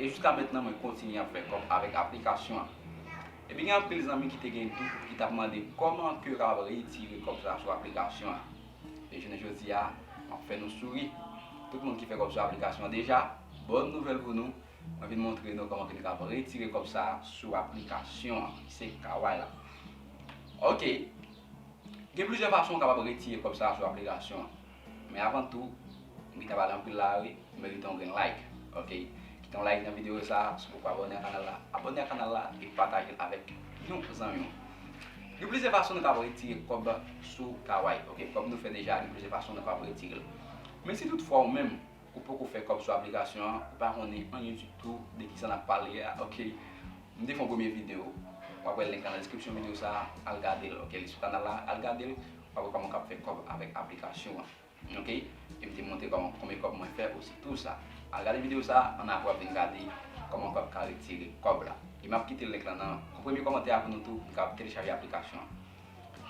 E jiska mentnan mwen kontinye ap fè kòb avèk aplikasyon an. Epi gen anpil zanmi ki te gen dout ki tap mande kòman kew kapab retire kòb sa sou aplikasyon an. E jounen jodi a map fè nou souri. Tout moun ki fè kòb sou aplikasyon an deja, bòn nouvèl pou nou, mwen vin montre nou kòman ke nou kapab retire kòb sa sou aplikasyon an. Se Kaway la. Ok. Gen plizyè fason ou kapab retire kòb sa sou aplikasyon an. Men avan tou, m gentan pale anpil la a wi, ou merite yon grenn like ok. Kite yon like nan videyo sa a si w poko abòne ak kanal la. Abòne ak kanal la e pataje l avèk yon zanmi w. Gen plizyè fason nou kapab retire kòb sou Kawai ok. Kòm nou fè deja gen plizyè fason nou kapab retire l. Men si tout fwa ou menm Ou poko fè kòb sou aplikasyon an ou pa konnen anyen ditou de kisa nap pale a ok m te fè yon premye video wap wè link lan nan description video sa al gadel ok li sou kanal la al gadel wap wè kòman ou kab fè kòb avèk aplikasyon an ok e m te montre kòman konbyen kòb mwen fè osi tou sa al gade video sa an aprè wap vin gade kòman ou kab ka retire kòb la e map kite link lan nan premye kòmantè a pou nou tou kab telechaje aplikasyon an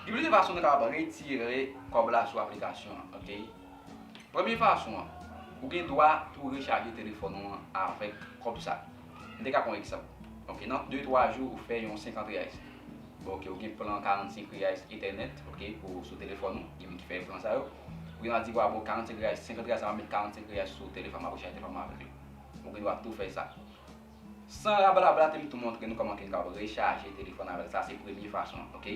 gen plizyè fason nou kab retire kòb la sou aplikasyon an ok. Premye fason an, ou gen dwa pou rechaje telefòn ou an avèk kòb sa. M te ka pran yon egzanp. Ok, nan de twa jou ou fè yon 50 reais. Bon ok, ou gen plan 45 reais etènèt, ok, pou sou telefòn ou, gen moun ki fè plan sa yo. Ou gen dwa di, wa bon 45 reais, 50 reais sa map met 45 reais sou telefòn mwen, map rechaje telefòn mwen avèk li. Ou gen dwa tou fè sa. San rabalabrate m tou montre nou kòman ke nou kapab rechaje telefòn avèk sa, se premye fason an, ok.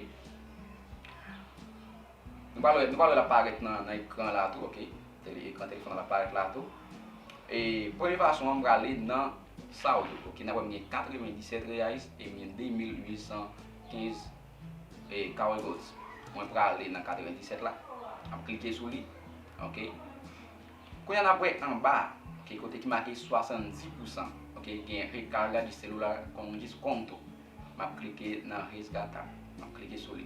Nou pral wè, nou pral wè lap parèt nan nan ekran la tou ok tele ekran telefòn nan lap parèt la tou e premye fason an m prale nan sa ou yo ok nap wè m gen 97 reais e m gen 2815 e carry goals mwen prale nan 97 la map klike sou li ok kounya nap wè anba ok kote ki make 70 pousan ok gen recarga de celular com desconto map klike nan resgatar map klike sou li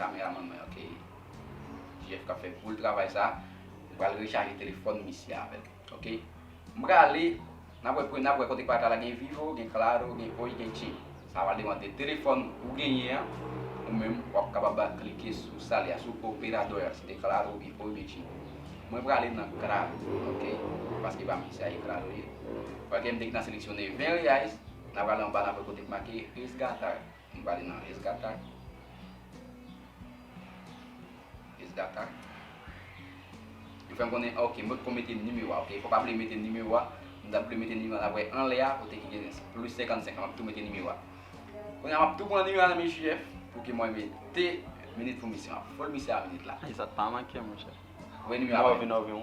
Kameraman mwen ok. Jeff kap fè boul travay sa. M pral rechaje telefòn misye avèl. Ok. M prale nap wè pou nap wè kote pata la gen vivo, gen claro, gen oi, gen che. Sa pral depande de telefòn ou genyen an. Ou menm wap kapab ba klike sou sal ya sou operadò ya si te claro ou byen oi ou byen che. Mwen prale nan claro ok. Paske pa misye a e claro li ye. Pakem te gentan seleksyone 20 reais. Nap prale anba nap wè kote ki make resgatar. Nou pale nan resgata. Resgata. Yo fèm konnen ok mwen poko mete nimewo a ok fò pa bliye mete nimewo a m tap bliye mete nimewo a nap wè anlè a kote ki gen plis 55 an map tou mete nimewo a kounya map tou pran nimewo a nan men JF pou ke mwen mete minit pou misye map fol misye a minit la. Esa t pa mankem monchè. Voye nimewo a Mwen vin avèw.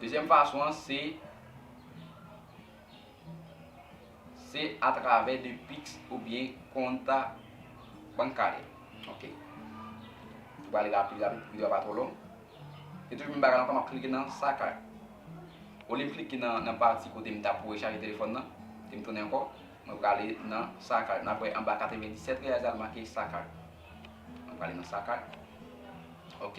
Dezyèm fason an se se atravè de pix oubyen konta bankary ok nou pral li rapid rapid pou video a pa twò long se toujou menm bagay la ankò map klike nan sa kay olye m klike nan pati kote m tap rechaje telefòn nan em tounen ankò mwen prale nan sa kay nap wè anba 97 reais la li make sa kay mwen prale nan sa kay ok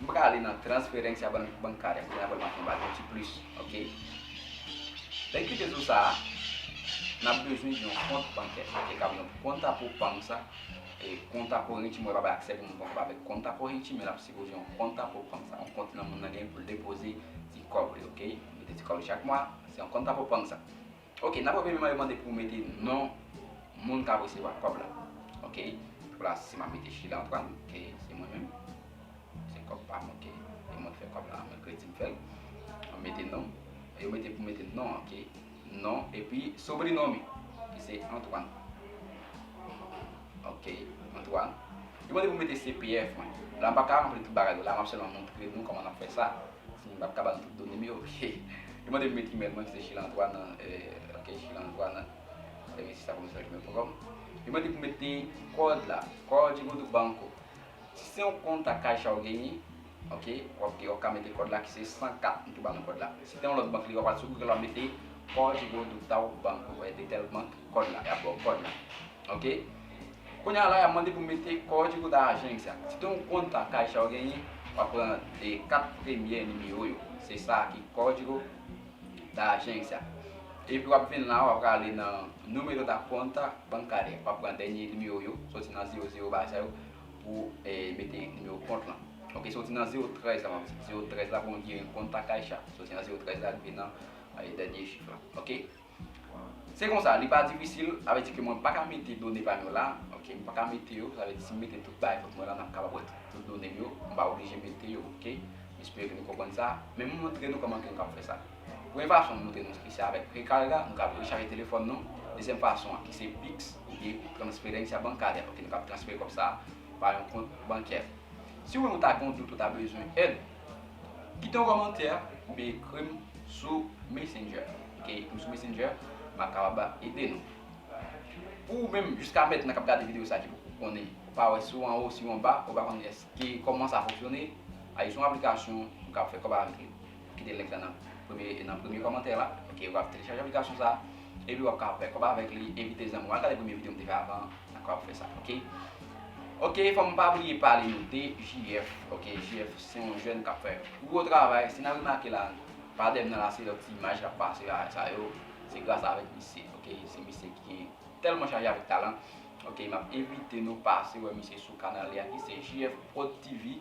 M paka ale nan transferencia bancaria kounye a pou l make yon bal yon ti plis ok. Lè ki te jou sa a n ap bezwen yon kont bankè e kab yon konta pou bank sa e konta korinti mwen pa bay aksè pou moun konn avèk konta korinti men l ap sipoze yon konta pou bank sa yon kont nan moun nan genyen pou l depoze ti kòb li ok mete ti kòb li chak mwa se yon konta pou bank sa. Ok nan premye man yo mande pou mete non moun kap resevwa kòb la ok pou la si map mete Sheila Antoine ok se mwen menm se kòb pam ok e mwen ki fè kòb la mwen kredi m fèl map mete non yo mete pou mete non ok non epi sobri non mi ki se Antoine ok Antoine yo mande pou mete CPF mwen la m paka ranpli tout bagay yo la map sèlman montre nou kòman nap fè sa. Bon founi pat ka bal tout donem yo li mande m met email mwen ki se chilantoine ok chilantoine services a commercial gmail point com li mande pou mete kòd la código do banco si se yon kont a caixa ou genyen ok wap gen wap ka mete kòd la ki se 104 m tou ba nou kòd la si te yon lòt bank li wap al sou google wap mete código do tal banco ou byen de tel bank kòd la yap baw kòd la ok. Kounya la yap mande pou mete kò ti kont ajan egzat. Si te yon kont pa Caixa ou genyen, wap pran 4 premyè nimewo yo. Se sa ki código da agência. Epi wap vin la wap prale nan Número da conta bancária. Wap pran dènye nimewo yo, soti nan 0 0 bagay sa yo pou mete nimewo kont lan. Ok soti nan 0 13 la map di. 0 13 la pou mwen ki gen kont pa Caixa. Soti nan 0 13 la rive nan dènye chif la. Ok. Se konsa, li pa difisil, sa vle di ke mwen pa ka mete done pa m yo la, ok, m pa ka mete yo, sa vle di si m mete tout bagay kont mwen la, n ap kapab wè tout done m yo, m pa oblije mete yo, ok. M espere ke nou konprann sa, men m montre nou kòman ke nou kapab fè sa. Premye fason m montre nou ki se avèk Recarga, nou kapab rechaje telefòn nou, dezyèm fason an ki se Pix oubyen transferencia bancaria, ok, nou kapab transfere kòb sa a pa yon kont bankè. Si ou menm ou ta gen yon dout ou ta bezwen èd, Kite yon kòmantè oubyen ekri m sou Messenger. Ok, ekri m sou Messenger, m ap kapab ede nou. Pou ou menm jiska mètnan k ap gade videyo sa ki poko konnen, ou pa wè si w anwo, si w anba, ou pa konnen èske kòman sa fonksyone, a jis yon aplikasyon ou ka fè kòb avèk li. Kite link la nan premye nan premye kòmantè la. Ok, ou ap telechaje aplikasyon sa epi w ap ka fè kòb avèk li, envite zanmi w al gade premye videyo m te fè avan an. Dakò ap fè sa ok. Ok fòm pa bliye pale nou de JF ok JF se yon jèn kap fè gwo travay si nan remake la pa dèm nan la se lòt ti imaj kap pase la sa yo se gras avèk misye ok se misye ki gen tèlman chaje avèk talan ok map envite nou pase wè misye sou kanal li a ki se JF prod TV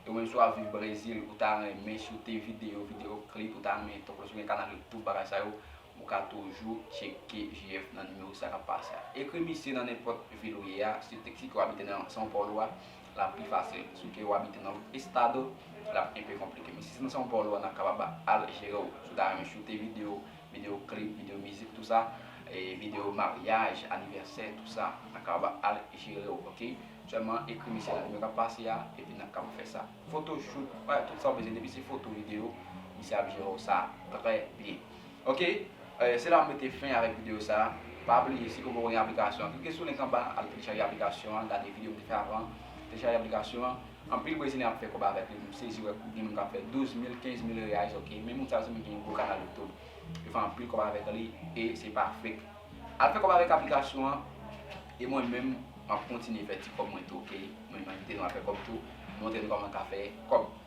ou menm si wap viv Brezil ou ta renmen si w te videyo videyo klip ou ta renmen tankou si w gen kanal youtube bagay sa yo. Ou ka toujou tcheke JF nan nimewo sa k ap pase a. Ekri misye nan nenpòt vil ou ye a, si te si ke w abite nan São Paulo a, l ap pi fasil. Si ke w abite nan lòt estado, l ap enpe konplike. Men si se nan São Paulo a, n ap kapab al jere w. Si w ta renmen choute videyo, videyo klip, videyo mizik tou sa, e videyo maryaj, anivèsè tou sa, n ap kapab al jere w ok. Sèlman ekri misye nan nimewo k ap pase a, epi n ap kapab fè sa. Foto, choute, tout sa w bezwen depi se foto, videyo, misye ap jere w sa trè byen. Ok se la m mete fen avèk video sa Pa bliye si ke w poko gen aplikasyon an klike sou link anba al telechaje aplikasyon an gade video m te fè avan telechaje aplikasyon an anpil brezilyen ap fè kòb avèk li m sezi wè gen moun kap fè 12 mil 15 mil reais ok men moun sa yo se moun ki gen gwo kanal youtube yo fè anpil kòb avèk li e se pa fake al fè kòb avèk aplikasyon an e mwen menm map kontinye fè ti kòb mwen tou ok mwen menm te nou al fè kòb tou montre nou kòman ka fè kòb.